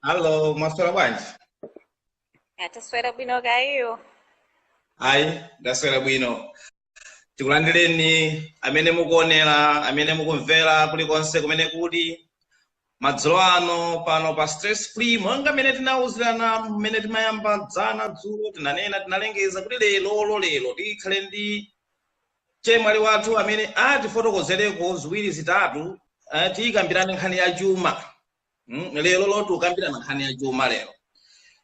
Hello, mwaswera bwanji? Ah taswera bwino kaya iwo? Ayi, ndaswera bwino. Tikulandireni amene mukuonera, amene mukumvera kulikonse kumene muli. Madzulo ano pano pa stress free monga mmene tinawuzirana mmene timayamba dzana dzulo tinanena tinalengeza kuti lerololero tikhale ndi ndi chemwali wathu amene atifotokozereko ziwiri zitatu eh, tikambirane nkhani ya chuma mm, lero lo tikambirana nkhani ya chuma lero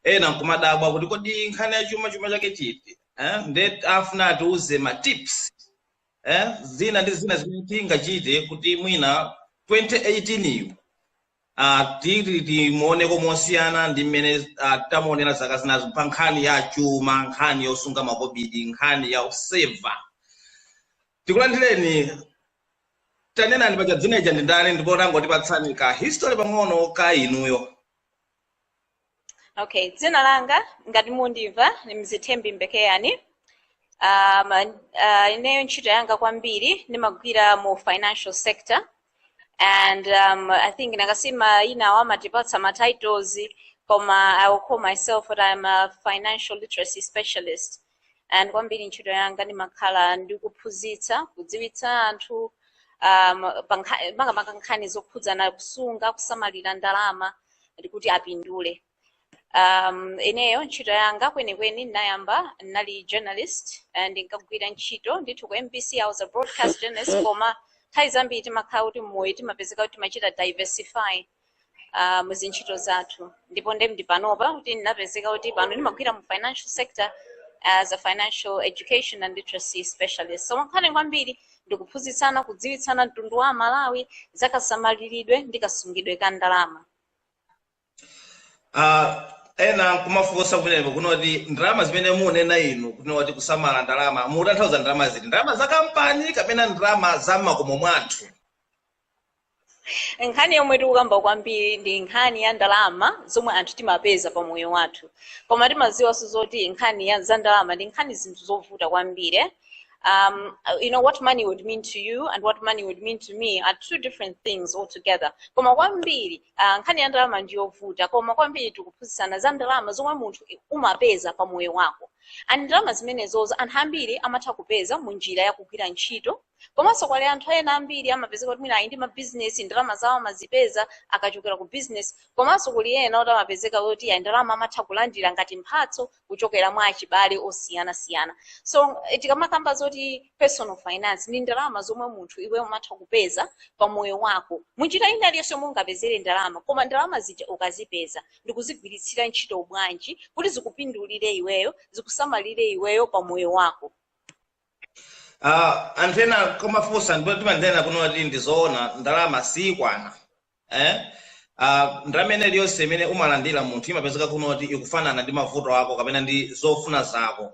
ena nkumadabwa kuti kodi nkhani ya chuma chuma chake chiti ndee afuna atiuze ma tips eh, zina ndi zina zimene tingachite kuti mwina 2018 yu ah, ti- ti- timuoneko mosiyana ndi mmene ah, tamuonera zaka zinazo pa nkhani ya chuma nkhani yosunga makobidi nkhani yo seva tikulandireni tanenani paja, dzina ija ndi ndani ndiponso tangotipatsani ka history pang'ono ka inuyo okay dzina langa ngati mundimva ndi Mzithembi Mbekeani um, uh, ineyo ntchito yanga kwambiri ndimagwira mu financial sector and um, i think nkasima inawo amatipatsa ma titles koma i will call myself that i'm a financial literacy specialist and kwambiri ntchito yanga ndimakhala ndikuphunzitsa kudziwitsa anthu um, pa nkha- makamaka nkhani zokhudzana kusunga kusamalira ndalama kuti apindule um, ineyo ntchito yanga kwenikweni ndinayamba ndinali journalist eh, ndinkagwira ntchito ndithu ku MBC i was a broadcast journalist koma nthawi zambiri timakhala kuti mmoyo timapezeka kuti timachita diversify uh, mu zintchito zathu ndipo nde ndili panopa kuti ndinapezeka kuti pano ndimagwira mu financial sector as a financial education and literacy specialist so nkhani kwambiri ndikuphunzitsana kudziwitsana mtundu wa aMalawi za kasamaliridwe ndi kasungidwe ka ndalama Ah, ena kumafunsa kumeneko kuti ndalama zimene munena inu kuneti kusamala ndalama mukutanthauza ndalama ziti ndalama za kampani kapena ndalama za mmakomo mwathu nkhani yomwe tikukamba kwambiri ndi nkhani ya ndalama zomwe anthu timapeza pa moyo wathu koma timaziwanso zoti nkhani ya za ndalama ndi nkhani zinthu zovuta kwambiri eh? um, you know what money would mean to you and what money would mean to me are two different things altogether koma kwambiri uh, nkhani ya ndalama ndi yovuta koma kwambiri tikuphunzitsana za ndalama zomwe munthu umapeza pa moyo wako and ndalama zimenezozo anthu ambiri amatha kupeza mu njira ya kugwira ntchito komanso kuli anthu ena ambiri amapezeka kuti mwina ali ndi mabizinesi ndalama zawo amazipeza kuchokera ku bizinesi komanso kuli ena kuti amapezeka kuti ayi ndalama amatha kulandira ngati mphatso kuchokera kwa achibale osiyanasiyana so eh, tikamakamba zoti personal finance ndi ndalama zomwe munthu iweyo umatha kupeza pa moyo wako munjira ina iliyonse yomwe ungapezere ndalama koma ndalama zija ukazipeza ndikuzigwiritsira ntchito bwanji kuti zikupindulire iweyo zikusamalire iweyo pa moyo wako Ah, anthu ena kumafunsa ndipo timanena kunena kuti ndizoona ndalama siyikwana eh? Ah, ndalama ina iliyonse imene umalandira munthu imapezeka kunena kuti ikufanana ndi mavuto ako kapena ndi zofuna zako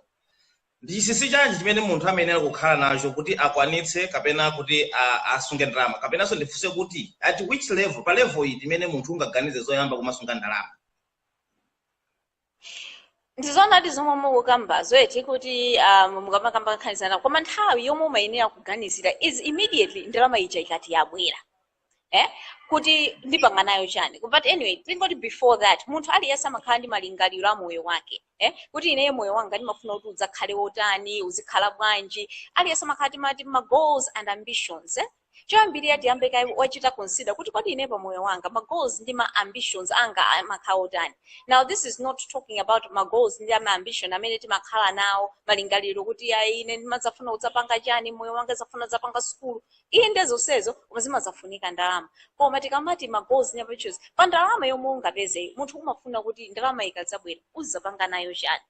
ndi chinsinsi chanji chimene munthu amayenera kukhala nacho kuti akwanitse kapena kuti ah, asunge ndalama kapenanso ndifunse kuti at which level pa level iti imene munthu ungaganize zoyamba kumasunga ndalama ndizoonadi zomwe mukukambazo eti kuti um, mukamakamba nkhani zina koma nthawi yomwe umayenera kuganizira is immediately ndalama ija ikati yabwera eh? kuti ndipanga nayo chani but anyway tingoti before that munthu aliyense amakhala ndi malingaliro a moyo wake eh? kuti ineyo moyo wanga ndimafuna kuti udzakhale wotani uzikhala bwanji aliyense amakhala timati ma goals and ambitions eh? Choyambirira uyambe kaye wachita consider kuti kodi ine pa moyo wanga ma goals ndi ma ambitions anga amakhala otani. Now this is not talking about ma goals ndi ma ambition amene timakhala nawo malingaliro kuti ayi ine ndimadzafuna kudzapanga chani mmoyo wanga ndizafuna kudzapanga sukulu. Inde zonsezo koma zimadzafunika ndalama. Koma tikamati ma goals ndi ma ambitions pa ndalama yomwe ungapezeyi munthu umafuna kuti ndalama ikadzabwera uzidzapanga nayo chani.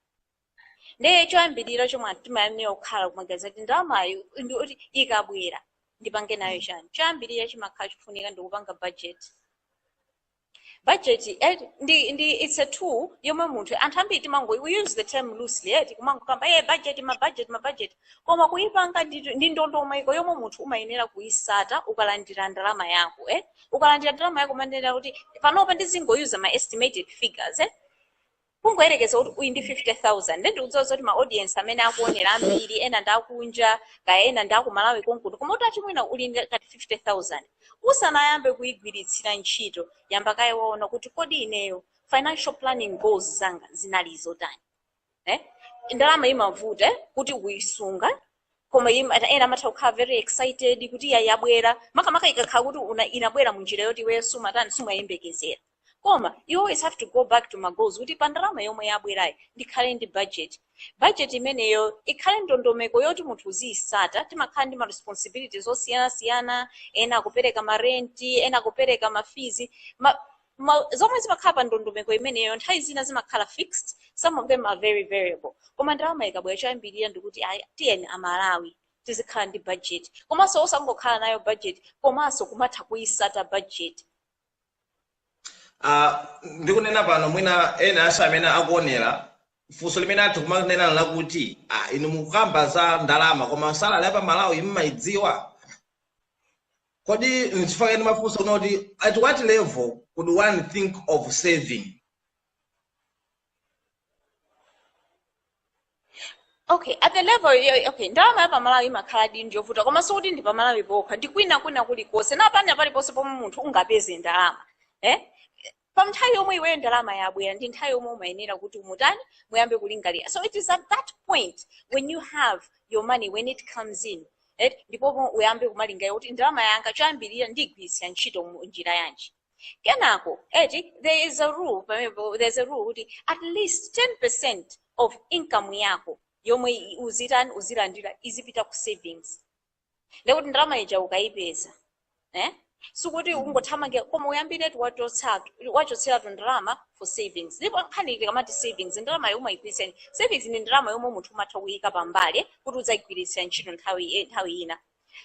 ndiye choyambirira chomwe anthu timayenera kukhala kumaganiza kuti ndalamayo ndi kuti ikabwera ndipange nayo chani choyambirira chimakhala chofunika ndikupanga budget budget eh, ndi, ndi it's a tool yomwe munthu anthu ambiri timango we use the term loosely eti kumangokamba hey, budget ma budget ma budget koma kuipanga ndi, ndi ndondomeko yomwe munthu umayenera kuisata ukalandira ndalama yako eh? ukalandira ndalama yako umayenera kuti panopa ndizingoyuza ma estimated figures eh? kungoyerekeza kuti uli ndi 50000 nde ndikudziwa zoti ma audience amene akuonera ambiri ena ndi akunja kaya ena ndi akumalawi konkuno koma kuti mwina uli ndi ngati 50000 usanayambe kuyigwiritsira ntchito yamba kaye waona kuti kodi ineyo financial planning goals zanga zinali zotani eh? ndalama imavuta eh, kuti uyisunga koma im- ena ena amatha kukhala very excited kuti iya yabwera makamaka ikakhala kuti una- inabwera munjira yoti iweyo sumatani sumayembekezera koma you always have to go back to magoals kuti pa ndalama yomwe yabwerayo ndikhale ndi budget budget imeneyoyo ikhale ndondomeko yoti munthu uziyisata timakhala ndi ma responsibilities osiyanasiyana ena akupereka marenti ena akupereka mafizi ma, Koma zomwe zimakhala pa ndondomeko imeneyo nthawi zina zimakhala fixed, some of them are very variable. Koma ndalama ikabwera choyambirira ndikuti ayi tiyeni a Malawi tizikhala ndi budget. Komanso osangokhala nayo budget komanso kumatha kuitsata budget. Ah, ndikunena pano mwina ena ansa amene akuonera funso limene atha kumanena lakuti ah, inu mukukamba za ndalama koma salary ya pa Malawi mumayidziwa kodi nchifukwa chani ndimafunsa kunena kuti at what level would one think of saving okay at the level yo- okay ndalama ya pamalawi imakhala di ndi yovuta koma sikuti ndi pamalawi pokha ndi kwina kwina kulikonse ndi pena paliponse pomwe munthu ungapeze ndalama eh? from nthawi yomwe iweyo ndalama yabwera ndi nthawi yomwe umayenera kuti utani muyambe kulingalira so it is at that point when you have your money when it comes in right? ndipo mo- uyambe kumalingalira kuti ndalama yanga choyambirira ndigwiritsa ntchito mu njira yanji kenako eti there is a rule pamenepo there is a rule kuti at least 10% of income yako yomwe i- uzitani uzilandira izipita ku savings ndekuti ndalama ija ukayipeza eh? sikuti ungothamange koma uyambiretu wachotsa wachotseratu ndalama for savings ndipo nkhani tikamati savings ndalama yomwe suyigwiritsa ntchito. savings ndi ndalama yomwe munthu umatha kuyika pambali kuti udzayigwiritse ntchito nthawi eh, nthawi ina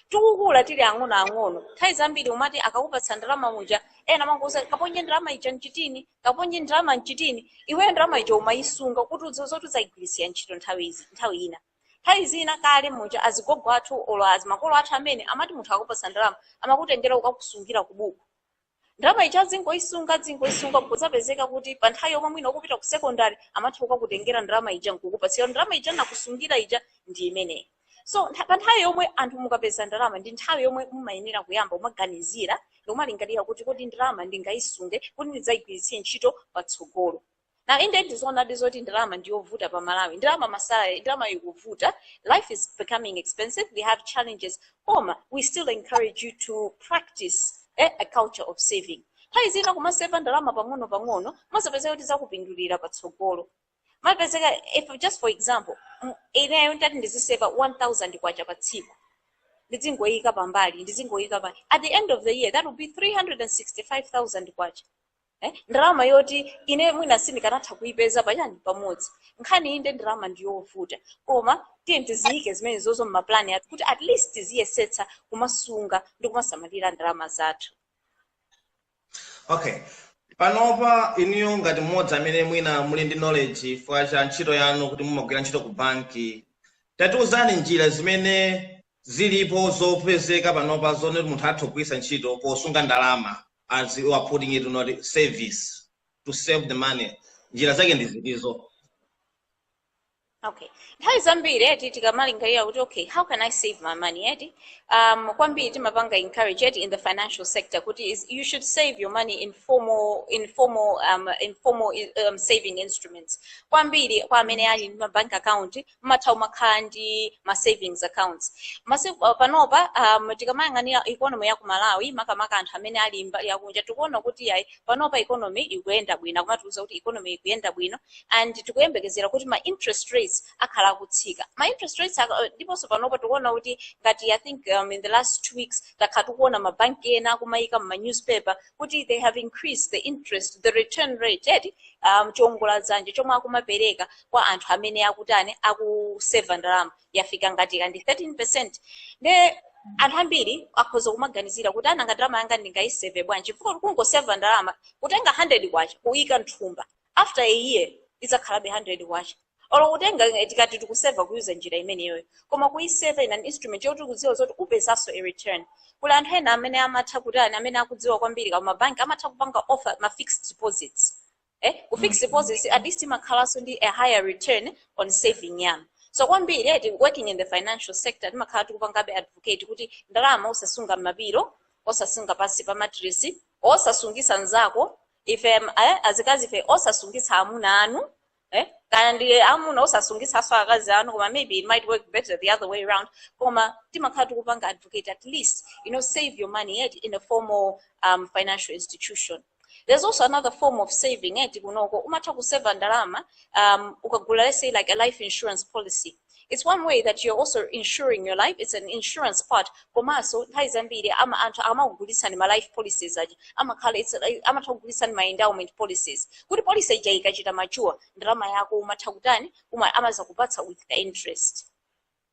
tikukula tili ang'ono ang'ono nthawi zambiri umati akakupatsa ndalama muja ena amangokuuza kaponye ndalama ija mchitini kaponye ndalama mchitini iweyo ndalama ija umayisunga kuti udziwe zoti udzayigwiritsa ntchito nthawi izi- nthawi ina Nthawi zina kale muja azigogo athu olo makolo athu amene amati munthu akakupatsa ndalama amakutengera kukakusungira ku buku. Ndalama ija azingoisunga azingoisunga nkudzapezeka kuti pa nthawi yomwe mwina ukupita ku secondary amatha kukakutengera ndalama ija nkukupatsa kuti ndalama ija ndinakusungira ija ndi imeneyi. So ntha- pa nthawi yomwe anthu mukapeza ndalama ndi nthawi yomwe mumayenera kuyamba kumaganizira ndikumalingalira kuti kodi ndalama ndingaisunge kuti ndidzaigwiritse ntchito patsogolo. Now inde ndizoonadi zoti ndalama ndiyovuta pa Malawi ndalama ma salary ndalama ikuvuta life is becoming expensive we have challenges koma we still encourage you to practice eh, a culture of saving nthawi zina kumaseva ndalama pang'ono pang'ono muzapezeka kuti zakupindulira patsogolo mupezeka if just for example m- ineyo ndati ndiziseva 1000 kwacha pa tsiku ndidzingoyika pambali ndidzingoyika pa at the end of the year that will be 365000 kwacha eh? ndalama yoti ine mwina sindikanatha kuipeza pachani pamodzi nkhani inde ndalama ndiyovuta koma tiye tiziyike zimenezozo mmapulani athu kuti at least tiziyesetsa kumasunga ndi kumasamalira ndalama zathu okay panopa inuyo ngati mmodzi amene mwina muli ndi knowledge chifukwa cha ntchito yanu kuti mumagwira ntchito ku banki tatiuzani njira zimene Zilipo zopezeka panopa zonena kuti munthu atha kugwiritsa ntchito posunga ndalama as you are putting it in other words to save the money njira zake ndi zitizo? Okay. Nthawi zambiri eti tikamalingalira kuti okay, how can I save my money eti? Um, kwambiri timapanga encourage eti in the financial sector kuti is, you should save your money in formal in formal um, in formal um, saving instruments. Kwambiri kwa amene ali ndi ma bank account mumatha kumakhala ndi ma savings accounts masiku pa- panopa um, tikamayang'anira economy ya ku malawi makamaka anthu amene ali mbali yakunja tikuona kuti ayi panopa economy ikuyenda bwino akumatiuza kuti economy ikuyenda bwino and tikuyembekezera kuti ma interest rates akhala akutsika ma interest rates aka- ndiponso panopa tikuona kuti ngati i think um, in the last two weeks takhala tikuona mabanki ena akumayika mma newspaper kuti they have increased the interest the return rate eti um, chiongoladzanja chomwe akumapereka kwa anthu amene akutani akuseva ndalama yafika ngati kaya ndi 13 percent nde anthu ambiri akhoza kumaganizira kuti aa ngati ndalama yanga ndingayiseve bwanji chifukwa kungoseva ndalama kutenga 100 kwacha kuyika mthumba after a year idzakhalabe 100 kwacha olo kutenga eh, tikati tikuseva kuyuza njira imeneyoyo koma kuyiseva in an instrument yoti kudziwa zoti upezapo a return kuli anthu ena amene amatha kutani amene akudziwa kwambiri kaya mabanki amatha kupanga offer ma fixed deposits eh ku fixed deposits at least timakhalanso ndi a higher return on saving yanu so kwambiri eti working in the financial sector timakhala tikupangabe advocate kuti ndalama osasunga m'mapiro osasunga pansi pa matiresi osasungisa nzako ife em, eh, azikazi ife osasungisa amuna anu eh? kaya ndi amuna osasungisaso akazi anu koma maybe it might work better the other way around koma timakhala tikupanga advocate at least you know save your money eti in a formal um, financial institution there's also another form of saving eti kunoko umatha kuseva ndalama um, ukagula let's say like a life insurance policy it's one way that you're also insuring your life it's an insurance part komanso nthawi zambiri ama anthu akamakugulitsani ma life policies aja amakhala it's like- amatha kugulitsani ma endowment policies kuti policy ija ikachita mature ndalama yako umatha kutani uma amaza kupatsa with the interest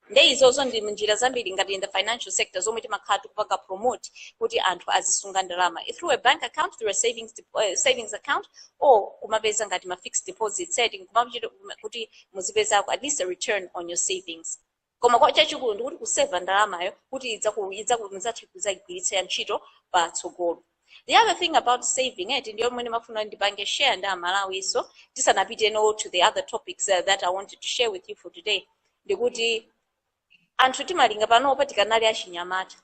nde izozo ndi njira zambiri ngati in the financial sector zomwe timakhala tikupanga promote kuti anthu azisunga ndalama i through a bank account through a savings, dep- uh, savings account or kumapeza ngati ma fixed deposits eti kumapita kuti muzipezako at least a return on your savings koma kwa chachikulu ndikuti kuseva ndalamayo kuti idzaku- idzaku- mudzathe kudzayigwiritsa ntchito patsogolo The other thing about saving eti ndi yomwe ndimafuna ndipange share ndi Amalawinso tisanapite on to the other topics uh, that I wanted to share with you for today ndikuti anthu timalinga panopa tikanali achinyamata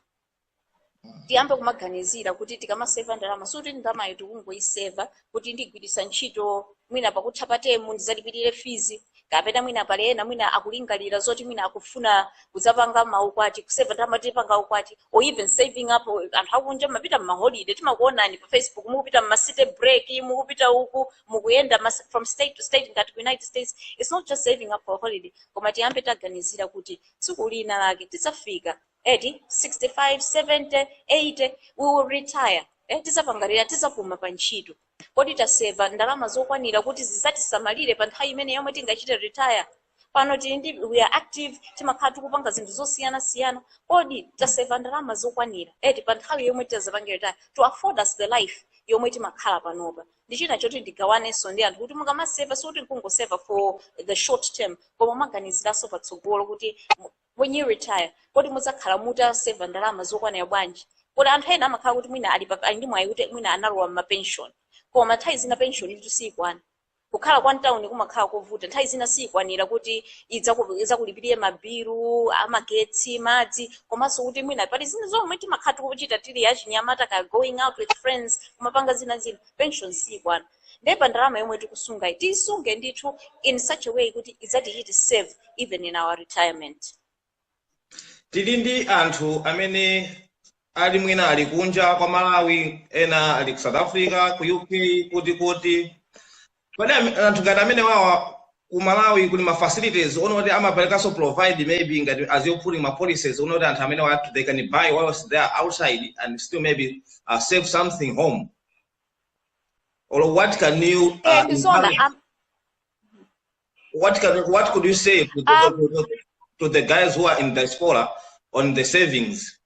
tiyambe kumaganizira kuti tikamaseva ndalama sikuti ndalamayo tikungoiseva kuti ndigwiritsa ntchito mwina pakutha pa temu ndizalipirire fizi kapena mwina pali ena mwina akulingalira zoti mwina akufuna kudzapanga maukwati kuseva ndalama tidzapange ukwati or even saving up anthu akunja mapita mmaholide timakuonani pa facebook mukupita mmacity break mukupita uku mukuyenda mas- from state to state ngati ku united states it's not just saving up for a holiday koma tiyambe taganizira kuti tsiku lina lake tidzafika eti 65 70 80 we will retire eh, tizapanga retire tizapuma pa ntchito kodi taseva ndalama zokwanira kuti zizatisamalire pa nthawi imene yomwe tingachite retire pano tili ndi we are active timakhala tikupanga zinthu zosiyana siyana kodi taseva ndalama zokwanira eti pa nthawi yomwe tizapange retire to afford us the life yomwe timakhala panopa ndi china choti ndigawanenso ndi anthu kuti mukamaseva sikuti nkungoseva for the short term koma maganiziranso patsogolo kuti when you retire kodi mudzakhala mutaseva ndalama zokwanira bwanji kodi anthu ena amakhala kuti mwina ali pa- ali ndi mwayi kuti mwina analowa mma pension koma nthawi zina pension itu siyikwana kukhala kwa mtawuni kumakhala kovuta nthawi zina siyikwanira kuti idzaku- idzakulipirire mabilu amagetsi madzi komanso kuti mwina pali zina zomwe timakhala tikuchita tili achinyamata ka going out with friends kumapanga zina zina pension siyikwana ndiye pa ndalama yomwe tikusungayi tiyisunge ndithu in such a way kuti idzatichite serve even in our retirement tili ndi anthu amene ali mwina ali kunja kwa malawi ena ali ku south africa ku uk kuti kuti kodi am- anthu ngati amene wawa ku malawi kuli ma facilities onokuti amaperekanso provide maybe ngati as you're putting ma policies onokuti anthu amene wa they can buy whilst they are outside and still maybe uh, save something home or what can you uh, Eh, ndi zona encourage? am- what can what could you say to the, Um, to, the, to the guys who are in diaspora on the savings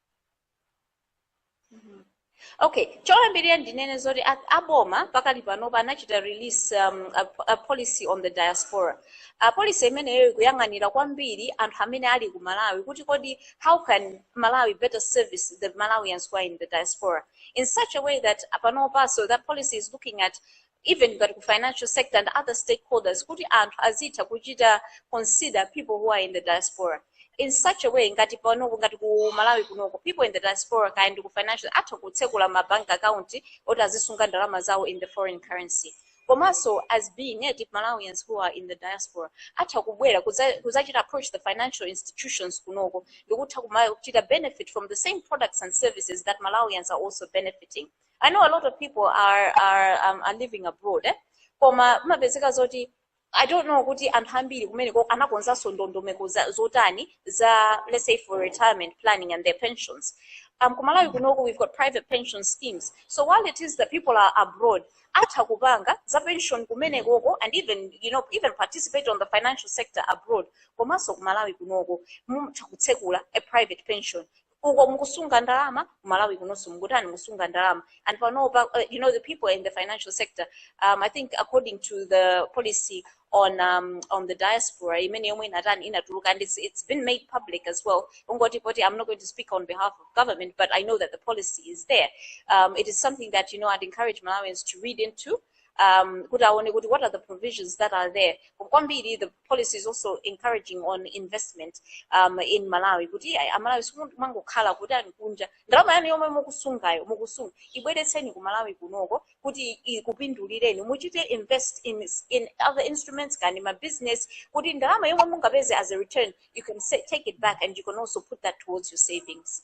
okay choyambirira ndinene zoti a- aboma pakali panopa anachita release um, a, a policy on the diaspora a policy imeneyo ikuyang'anira kwambiri anthu amene ali ku malawi kuti kodi how can malawi better service the malawians who are in the diaspora in such a way that panopa so that policy is looking at even ngati ku financial sector and other stakeholders kuti anthu azitha kuchita consider people who are in the diaspora in such a way ngati panopa ngati ku malawi kunoko people in the diaspora kaya ndi ku financial atha kutsekula ma bank account oti azisunga ndalama zawo in the foreign currency komanso as being native malawians who are in the diaspora atha kubwera kudza- kudzachita approach the financial institutions kunoko ndikutha kumachita benefit from the same products and services that malawians are also benefiting i know a lot of people are, are, um, are living abroad eh? koma mapezeka zoti i don't know kuti anthu ambiri kumeneko anakonzanso ndondomeko za- zotani za let's say for retirement planning and their pensions um, kumalawi kunoko we've got private pension schemes so while it is that people are abroad atha kupanga za pension kumenekoko and even you know even participate on the financial sector abroad komanso ku malawi kunoko mutha kutsekula a private pension uko mukusunga ndalama ku malawi kunonso mukutani mukusunga ndalama and panopa uh, you know the people in the financial sector um, i think according to the policy on um, on the diaspora imene yomwe inatani inatuluka and it's, it's been made public as well kungoti poti i'm not going to speak on behalf of government but i know that the policy is there um, it is something that you know i'd encourage malawians to read into um, kuti aone kuti what are the provisions that are there kwambiri the policy is also encouraging on investment um, in malawi kuti ayi, amalawi musamangokhala kuti muli kunja ndalama yanu yomwe mukusungayo mukusunga ibweretseni ku malawi kunoko kuti ikupindulireni muchite invest in, in other instruments kaya ndi ma business kuti ndalama yomwe mungapeze as a return you can say, take it back and you can also put that towards your savings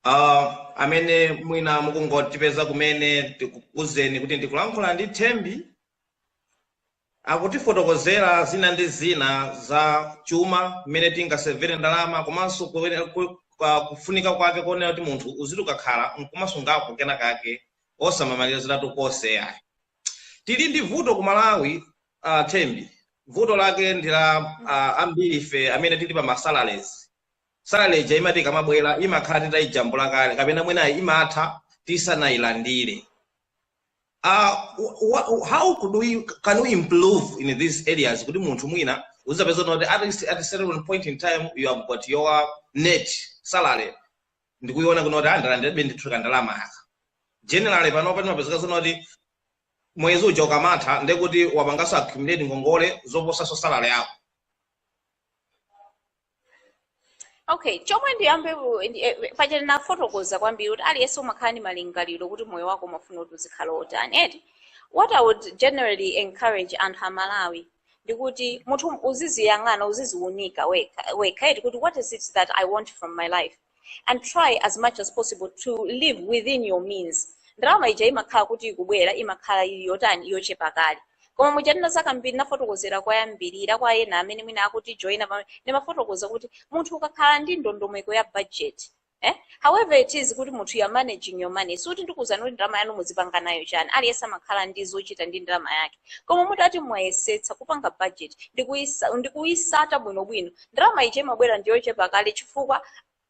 Uh, amene mwina mukungotipeza kumene ndikuuzeni kuti ndikulankhula ndi thembi Akutifotokozera zina ndi zina za chuma, mmene tingasevere ndalama komanso kuyenera ku pa kufunika kwake konena kuti munthu uzitha kukhala nkumasungako kenakake osamamaliziratu konse ayi. Tili ndi vuto ku Malawi a Thembi, vuto lake ndi loti ambiri ife amene tili pa ma salaries. Salary ija imati ikamabwera imakhala titaijambula kale kapena mwina imatha tisanailandire. uh, wha- wha- how could we can we improve in these areas kuti munthu mwina uzizapeza kuti at least at a certain point in time you have got your net salary ndikuiona kuno kuti andalandirabe ndithu ka ndalama kanga generally panopa timapezeka zonena kuti mwezi uja ukamatha ndekuti wapangaso accumulate ngongole zoposaso salary yako okay chomwe ndiyambe ku- ndi- eh, eh, paja tinafotokoza kwambiri kuti aliyense umakhala ndi malingaliro kuti moyo wako umafuna kuti uzikhala wotani eti what i would generally encourage anthu amalawi ndikuti munthu uziziyang'ana uziziunika wekha wekha eti kuti what is it that i want from my life and try as much as possible to live within your means ndalama ija imakhala kuti ikubwera imakhala ili yotani yochepa kale koma muja ndina zakambiri ndinafotokozera koyambirira kwa ena amene mwina akuti joina kumene ndimafotokoza kuti munthu ukakhala ndi ndondomeko ya budget Eh? however it is kuti munthu you are managing your money sikuti ndikuuzani kuti ndalama yanu muzipanga nayo chani aliyense amakhala ndi zochita ndi ndalama yake koma mutati mwayesetsa kupanga budget ndi kuisa- ndi kuitsata bwinobwino ndalama ija imabwera ndiyochepa kale chifukwa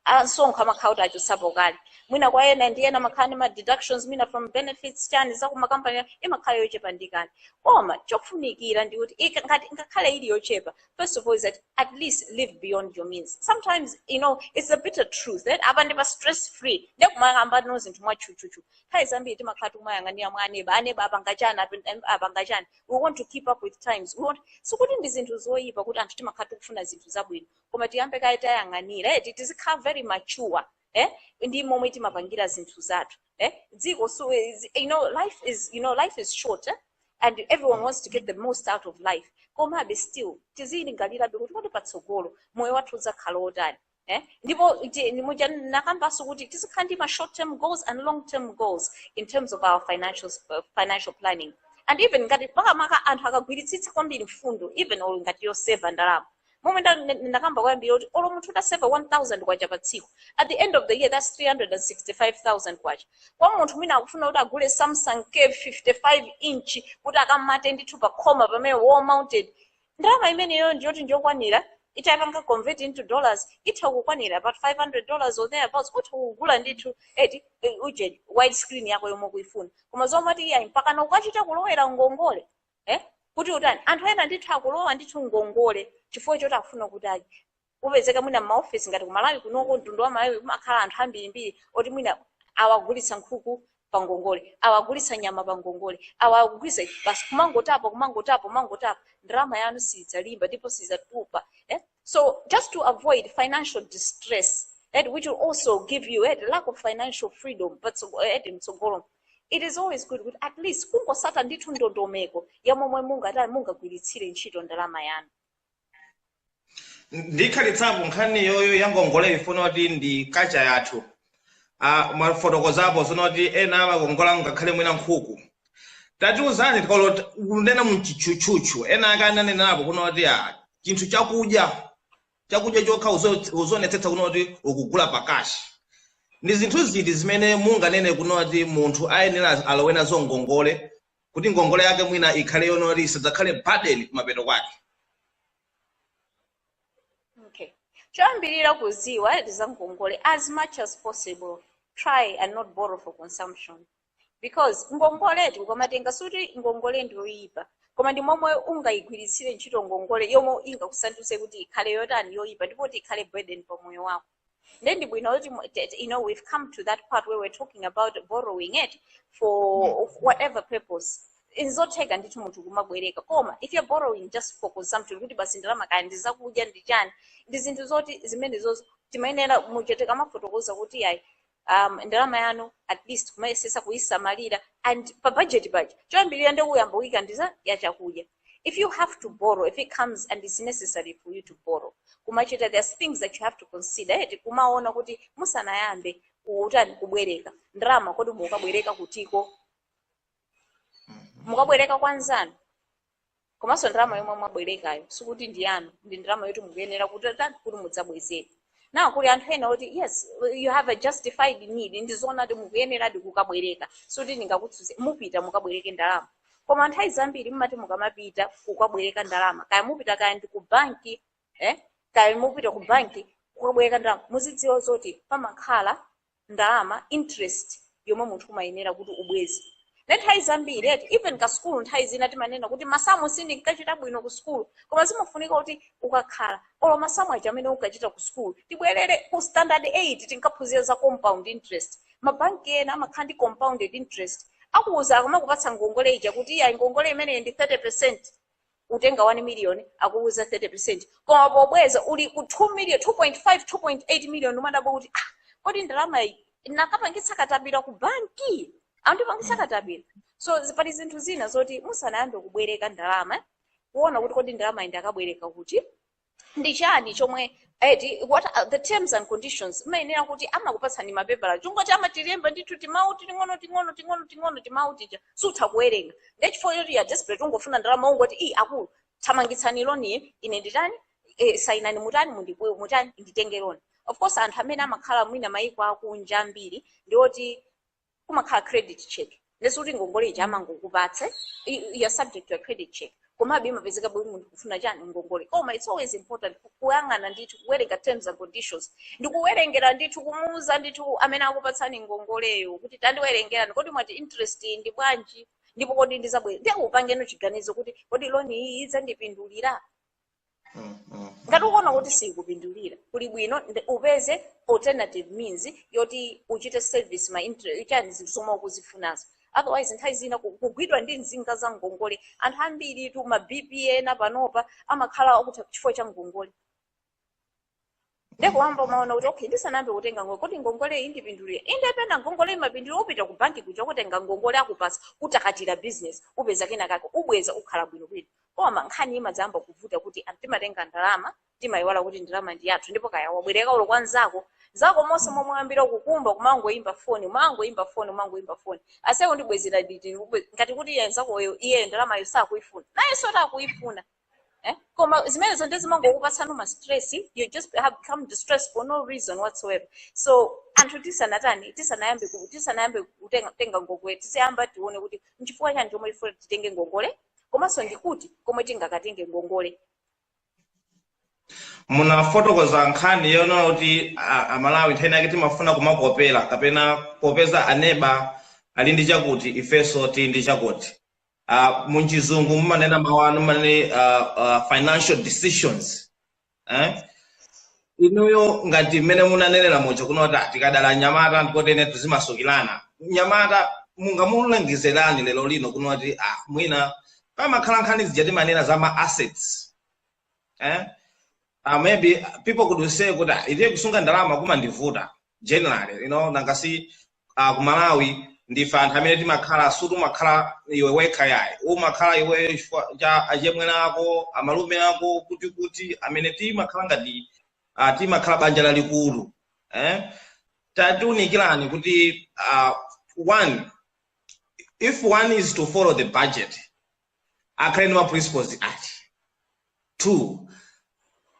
ansonkho amakhala kuti achotsapo kale mwina kwa ena ndi ena amakhala ndi ma deductions mwina from benefits chani za kumakampani imakhala yochepadi kale koma chofunikira ndi kuti ika- ngati ngakhale ili yochepa first of all is that at least live beyond your means sometimes you know it's a bitter truth eh? apa ndi pa stress free ndekumakamba ndithu zinthu mwatchutchutchu nthawi zambiri timakhala tikumayang'anira mwa aneba aneba apanga chani apen- em- apanga chani we want to keep up with times we want sikuti ndi zinthu zoyipa kuti anthu timakhala tikufuna zinthu zabwino koma tiyambe kaye tayang'anira eh, ti- tizikhala very mature eh, ndi momwe timapangira zinthu zathu eh, dziko so is- you know life is you know life is short eh? and everyone wants to get the most out of life komabe still tiziyilingalirabe kuti kodi patsogolo moyo wathu udzakhala wotani Eh? ndipo ti- ni muja nakambanso kuti tizikhala ndi ma short term goals and long term goals in terms of our financial, uh, financial planning and even ngati makamaka anthu akagwiritsitsa kwambiri mfundo even olo ngati yoseva ndalama momwe nda- nda- ndakamba kwambiri kuti olo munthu utaseva 1000 kwacha pa tsiku at the end of the year that's 365000 kwacha kwa munthu mwina akufuna kuti agule samsung ya 55 inch kuti akamate ndithu pa khoma pamene wall mounted ndalama imeneyo ndiyoti ndiyokwanira itapanga convert into dollars itha kukwanira about 500 dollars or thereabouts utha kugula ndithu eti eh, uje wide screen yako yomwe kuifuna koma zomati iyayi mpakana ukachita kulowera ngongole eh? kuti utani anthu ena ndithu akulowa ndithu ngongole chifukwa choti akufuna kuti ayi kupezeka mwina m'maofesi ngati ku malawi kunoko mtundu wa malawi kumakhala anthu ambirimbiri oti mwina awagulitsa nkhuku pangongole awagulitsa nyama pangongole awagulitsa basi kumangotapa kumangotapa kumangotapa ndalama yanu sidzalimba ndipo sidzatupa eh? so just to avoid financial distress eh, which will also give you eh, the lack of financial freedom patso- eh, mtsogolo it is always good kuti at least kungotsata ndithu ndondomeko ya momwe mungatani mungagwiritsire ntchito ndalama yanu ndikhalitsapo nkhani yoyo ya ngongole ndikufuna kuti ndi kacha yathu Ah, mwafotokozapo zona kuti ena amakongola ngakhale mwina nkhuku tatiuzani tikolo kunena mutchutchutchu ena ake ananenapo kuno kuti ah, chinthu chakudya chakudya chokha uzo- uzonetsetsa kuno kuti ukugula pakashi ndi zinthu ziti zimene munganene kuno kuti munthu ayenera alowe nazo ngongole kuti ngongole yake mwina ikhale yonoti isadzakhale burden kumapeto kwake Okay. Choyambirira kudziwa za ngongole as much as possible try and not borrow for consumption because ngongole tikamatenga sikuti ngongole ndiyoyipa koma ndi momwe ungayigwiritsire ntchito ngongole yomwe ingakusandutse kuti ikhale yotani yoyipa ndipo kuti ikhale burden pa moyo wako Nde ndi bwino kuti mu- t- t- you know we've come to that part where we're talking about borrowing it for whatever purpose. Nzotheka ndithu munthu kumabwereka koma if you're borrowing just for consumption kuti basi ndalama kaya ndi zakudya ndi chani ndi zinthu zoti zimenezozo timayenera muja tikamafotokoza kuti ayi um, ndalama yanu at least kumayesesa kuyisamalira and pa budget paja choyambirira nde kuyamba kuyika ndi za chakudya if you have to borrow if it comes and it's necessary for you to borrow kumachita there's things that you have to consider eti kumaona kuti musanayambe kutani kubwereka ndalama kodi mukabwereka kutiko mukabwereka kwa nzanu komanso ndalama yomwe mwabwerekayo sikuti ndi yanu ndi ndalama yoti mukuyenera kutani kuti mudzabwezere nde kuli anthu ena oti yes you have a justified need ndi zoona kuti mukuyeneradi kukabwereka sikuti ndingakutsutse mupita mukabwereke ndalama koma nthawi zambiri mumati mukamapita kukabwereka ndalama kaya mupita kaya ndi ku banki eh? kaya mupita ku banki kukabwereka ndalama muzidziwa zoti pamakhala ndalama, interest, yomwe munthu umayenera kuti ubweze. Nde nthawi zambiri eti even ku sukulu nthawi zina timanena kuti masamu sindinkachita bwino ku sukulu koma zimafunika kuti ukakhala olo masamu aja amene unkachita ku sukulu tibwerere ku standard 8 tinkaphunzira za compound interest mabanki ena amakhala ndi compounded interest akuwuza akumakupatsa ngongole ija kuti iya ngongole imeneyi ndi 30 percent utenga 1 million akuuza 30% koma pobweza uli ku 2 million 2.5 2.8 million umadabwa kuti ah, kodi ndalama iyi inakapangitsa katapira ku banki andipangitsa katapira so zi- pali zinthu zina zoti musanayambe kubwereka ndalama kuona kuti kodi ndalama iyi ndakabwereka kuti ndi chani chomwe eti what are the terms and conditions mumayenera kuti amakupatsani mapepala chingoti amatilemba ndithu timawu ting'ono ting'ono ting'ono ting'ono timawu tija sutha kuwerenga nde chifukwa choti wa desperate ungofuna ndalama ungoti iyi akulu thamangitsani loniyo ine nditani eh, sayinani mutani mundipuwe mutani nditenge loni of course anthu amene amakhala mwina mayiko akunja ambiri ndi oti kumakhala credit check ndesi kuti ngongole ija amangokupatsa i- i- you're subject to a credit check komabe imapezekabe kuti munthu akufuna chani ngongole koma it's always important ku- kuyang'ana ndithu kuwerenga terms and conditions ndi kuwerengera ndithu kumuuza ndithu amene akupatsani ngongoleyo kuti tandiwerengerani kodi mwati interest iyi ndi bwanji ndipo kodi ndizabwera ndiye kupangano chiganizo kuti kodi loni iyi idzandipindulira Mm, mm, ngati mm. ukuona kuti sikupindulira kuli bwino upeze alternative means yoti uchite service ma inter- chani zinthu zomwe ukuzifunazo otherwise nthawi zina ku- kugwidwa ndi nsinga za ngongole anthu ambiritu ma bp ena panopa amakhala okutha chifukwa cha ngongole nde poyamba umaona kuti okay ndisanayambe kutenga ngongole kodi ngongole iyi indipindulira inde pena ngongole imapindulira upita ku banki kuja kutenga ngongole akupasa utakata business upeza kena kake ubweza ukhala bwino bwino koma nkhani imadzayamba kuvuta kuti anthu timatenga ndalama timayiwala kuti ndalama ndi yathu ndipo kaya wabwereka olo kwa nzako nzako monse momwe wayambira kukumba kumangoyimba foni umangoyimba foni umangoyimba foni ase undibwezera liti ube- ngati kuti iye nzakoyo iye ndalamayo sakuyifuna nayenso akuyifuna eh? koma zimenezo nde zimangokupatsani ma stress you just become distressed for no reason whatsoever so anthu tisanatani tisanayambe ku- tisanayambe kutenga kutenga ngongole tiziyamba tione kuti nchifukwa chani chomwe tifuna titenge ngongole komanso ndikuti komwe tingakatenge ngongole munafotokoza nkhani yonena kuti a- amalawi nthawi zina timafuna kumakopera kapena kuti popeza aneba ali ndi chakuti ifenso tili ndi chakuti Uh, munchizungu mumanena mawu anu amene uh, uh, financial decisions eh? inuyo ngati mmene munanenera muja kunena kuti "Ah, tikadala nyamata ndiye kuti tizimasukirana mnyamata mungamulangize zotani lero lino kunena kuti ah, mwina pamakhala nkhani zija timanena za ma assets eh? uh, maybe people could say kuti "Ah, itiye kusunga ndalama kumandivuta generally you know nangasi uh, ku malawi ndife anthu amene timakhala sikuti umakhala iwe wekha yayi umakhala iwe chifukwa cha achemwene ako amalume ako kuti kuti amene timakhala ngati uh, timakhala banja lalikulu eh? tatiunikirani kuti uh, one if one is to follow the budget akhale ndi ma principles ati two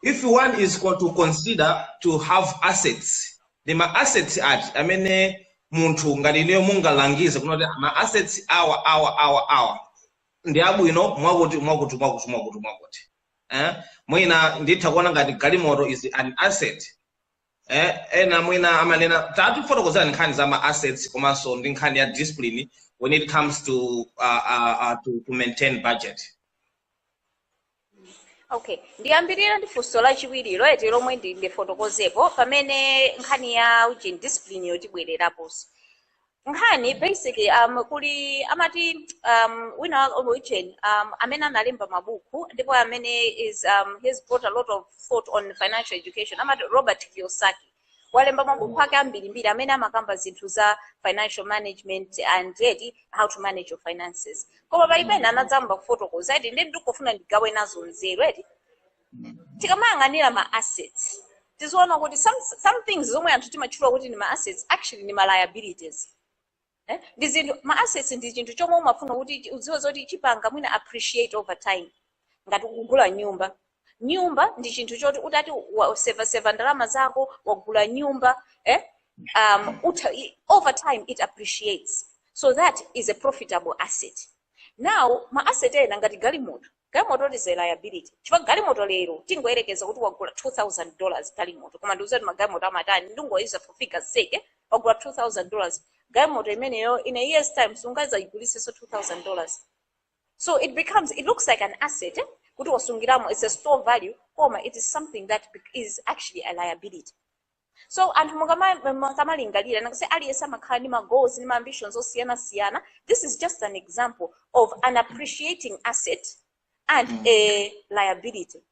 if one is co- to consider to have assets ndi ma assets ati amene munthu ngati ineyo mungalangize kunena kuti ma assets awa awa awa awa ndi abwino mwakuti mwakuti mwakuti mwakuti mwakuti eh? mwina nditha kuona ngati galimoto is an asset eh, ena mwina amanena tatifotokozerani nkhani za ma assets komanso ndi nkhani ya discipline when it comes to uh, uh, uh, to, to maintain budget okay ndiyambirira ndi funso lachiwiri ilo eti lomwe ndi- ndifotokozepo pamene nkhani ya ujeni discipline iyo tibwereraponso nkhani basically um, kuli amati um, wina wa origin um, amene analemba mabuku ndipo amene has um, he's brought a lot of thought on financial education amati robert kiyosaki walemba mabuku ake ambirimbiri amene amakamba zinthu za financial management and eti how to manage your finances koma pali pena anayamba kufotokoza eti ndiye ndikufuna ndigawe nazo nzeru eti tikamayang'ana ma assets tiziona kuti some, some things zomwe anthu timatchula kuti ndi ma assets actually ndi ma liabilities eh? ndi zinthu ma assets ndi chinthu chomwe umafuna kuti chi- udziwe zoti chipanga mwina appreciate over time ngati ukugula nyumba nyumba ndi chinthu choti utati wasevaseva ndalama zako wagula nyumba eh? um, uta, i- over time it appreciates so that is a profitable asset now ma asset ena ngati galimoto Galimoto is a liability chifukwa galimoto lero tingoyerekeza kuti wagula 2000 dollars galimoto koma ndikuuzani kuti magalimoto amatani ndingowauza for figures sake wagula 2000 dollars galimoto imeneyo in a year's time sungazayigulisenso 2000 dollars so it becomes it looks like an asset eh? kuti wasungiramo it's a store of value koma it is something that bec- is actually a liability so anthu mukama- mukamalingalira nangasi aliyense amakhala ndi magoals ndi maambitions osiyanasiyana this is just an example of an appreciating asset and a liability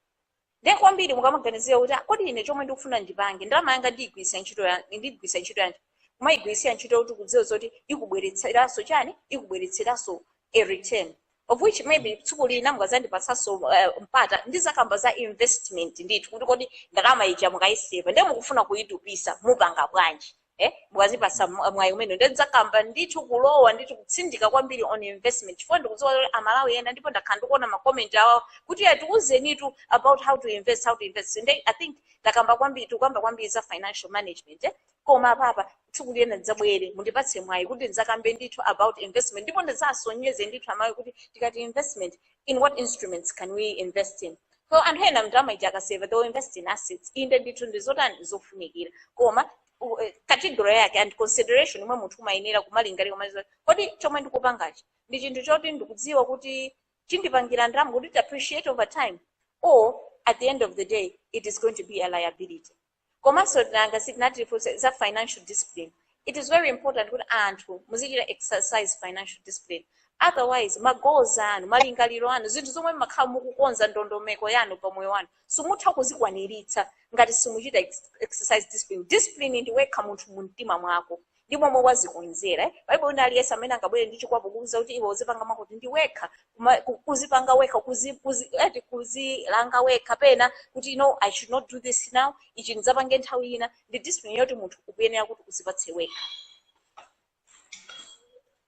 ndiye kwambiri mukamaganizira kuti "Ah, kodi ine chomwe ndikufuna ndipange ndalama yanga ndiyigwiritse ntchito ya- ndigwiritse ntchito yanji kumayigwiritsira ntchito ukudziwa zoti ikubweretseranso chani ikubweretseranso a return of which maybe tsiku lina mukazandipatsanso uh, mpata ndizakamba za investment ndithu kuti kodi ndalama ija mukayiseva ndiye mukufuna kuyitupisa mupanga bwanji eh mukazandipasa mwa- mwayi umenewo ndiye ndizakamba ndithu kulowa ndithu kutsindika kwambiri on investment chifukwa ndikudziwa kuti amalawi ena ndipo ndakhala ndikuona makoment awo kuti ya tiuzenitu about how to invest how to invest ndiye i think takamba kwambiri tikukamba kwambiri za financial management eh koma pompano tsiku lina ndidzabwere mundipatse mwayi kuti ndidzakambe ndithu about investment ndipo ndidzasonyeze ndithu amayi kuti tikati investment in what instruments can we invest in so anthu ena ndalama ija akaseva they will invest in assets inde ndithu ndizinthu zofunikira koma u- eh, category yake and consideration yomwe munthu umayenera kumalingalira kumadziwa kodi chomwe ndikupangachi ndi chinthu choti ndikudziwa kuti chindipangira ndalama kuti it appreciate over time or at the end of the day it is going to be a liability komanso nanga si ndinati za financial discipline it is very important kuti anthu muzichita exercise financial discipline otherwise ma goals anu malingaliro anu zinthu zomwe mmakhala mukukonza ndondomeko yanu pa moyo wanu simutha kuzikwaniritsa ngati simuchita ex- exercise discipline discipline ndi wekha munthu mu mtima mwako ndi momwe wazikonzera eh? palibe wina aliyense amene angabwere ndi chikwapu kuuza kuti iwe uzipanga zakuti ndi wekha kuma- ku- kuzipanga wekha kuzi- kuzi- eti kuzilanga wekha pena kuti no i should not do this now ichi ndidzapange nthawi ina ndi discipline yoti munthu ukuyenera kuti uzipatse wekha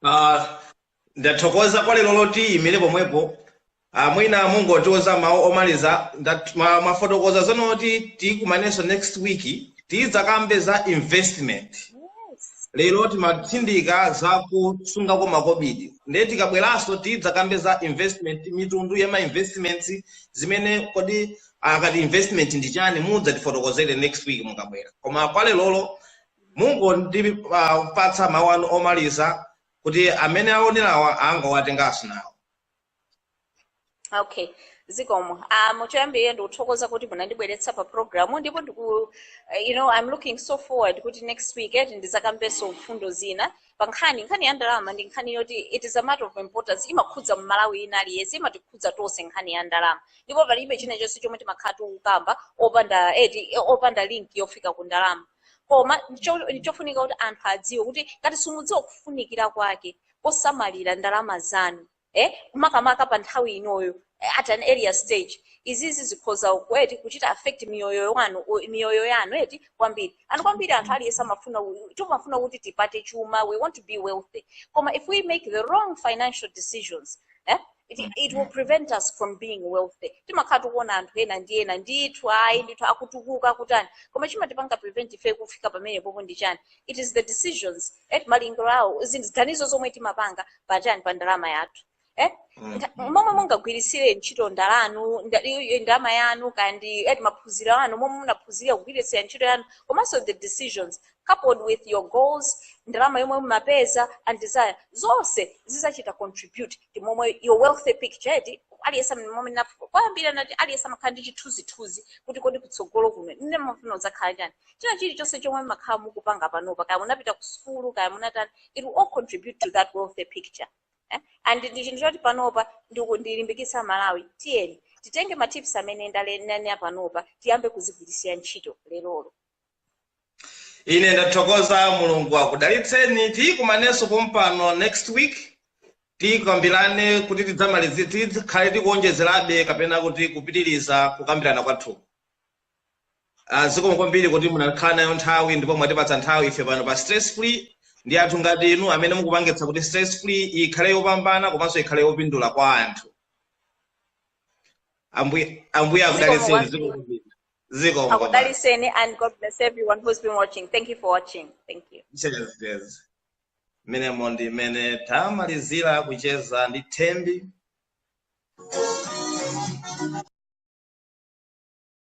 Ah, Ndathokoza kwa leroli tiyimire pomwepo ah, mwina mungotiuza mawu omaliza ndat- mwa- mwafotokoza zonoti tikumanenso next week tidzakambe za investment lero timatsindika za kusunga kwa makobidi ndiye tikabweranso tidzakambe za investment mitundu ya ma investments zimene kodi akati investment ndi chani mudzatifotokozere next week mukabwera koma kwa lerolo mungondipatsa mawu anu omaliza kuti amene aonerawa angawatengenso nawo okay zikomo uh, choyambirira ndikuthokoza kuti munandibweretsa pa programu ndipo ndiku eh, you know i'm looking so forward kuti next week eti tidzakambenso mfundo zina pa nkhani ndi nkhani ya ndalama ndi nkhani yoti it is a matter of importance imakhudza mmalawi wina aliyense imatikhudza tonse nkhani ya ndalama ndipo palibe china chonse chomwe timakhala tikukamba opanda eti eh, opanda link yofika ku ndalama koma ndicho- ndichofunika kuti anthu adziwe kuti ngati simukudziwa kufunikira kwake kosamalira ndalama zanu eh, makamaka pa nthawi inoyo eh, at an earlier stage izizi zikhoza ku eti kuchita affect miyoyo wanu o- miyoyo yanu eti kwambiri anthu kwambiri anthu aliyense amafuna u- timafuna kuti tipate chuma we want to be wealthy koma if we make the wrong financial decisions eh, it, it will prevent us from being wealthy timakhala tikuona anthu ena ndi ena ndithu ayi ndithu akutukuka akutani koma chimatipanga prevent ife kufika pamenepopo ndi chani it is the decisions eh, malingaliro awo ziganizo zomwe timapanga pa chani pa ndalama yathu eh? Nda- momwe mungagwiritsire ntchito ndalanu nda- iyo- iyo ndalama yanu kaya ndi eti maphunziro anu momwe munaphunzirira kugwiritsira ntchito yanu komanso the decisions coupled with your goals, ndalama yomwe mumapeza and desire, zonse zidzachita contribute ndi momwe your wealthy picture eti aliyense momwe na kwambiri anati aliyense amakhala ndi chithunzithunzi kuti kodi kutsogolo kuno ine ndimafuna kudzakhala chani china chilichonse chomwe mumakhala mukupanga panopa kaya munapita ku sukulu kaya munatani it will all contribute to that wealthy picture eh? and ndi chinthu choti panopa ndiku- ndilimbikitsa Amalawi tiyeni titenge matips amene ndale- ndanena panopa tiyambe kuzigwiritsira ntchito lerolo ine ndathokoza mulungu akudalitseni tidzakumanenso pompano next week tikambirane kuti tidzamalize tikhale tikuonjezerabe kapena kuti kupitiriza kukambirana kwathu Ah, zikomo kwambiri kuti munakhala nayo nthawi ndipo mwatipatsa nthawi ife pano pa stress free ndi anthu ngati inu amene mukupangitsa kuti stress free ikhale yopambana komanso ikhale yopindula kwa anthu ambuye ambuye akudalitseni zikomo kwambiri zikomo kwambiri akudalitseni and god bless everyone who's been watching thank you for watching thank you Cheers, cheers. Mmenemo ndi mmene tamalizira kucheza ndi Thembi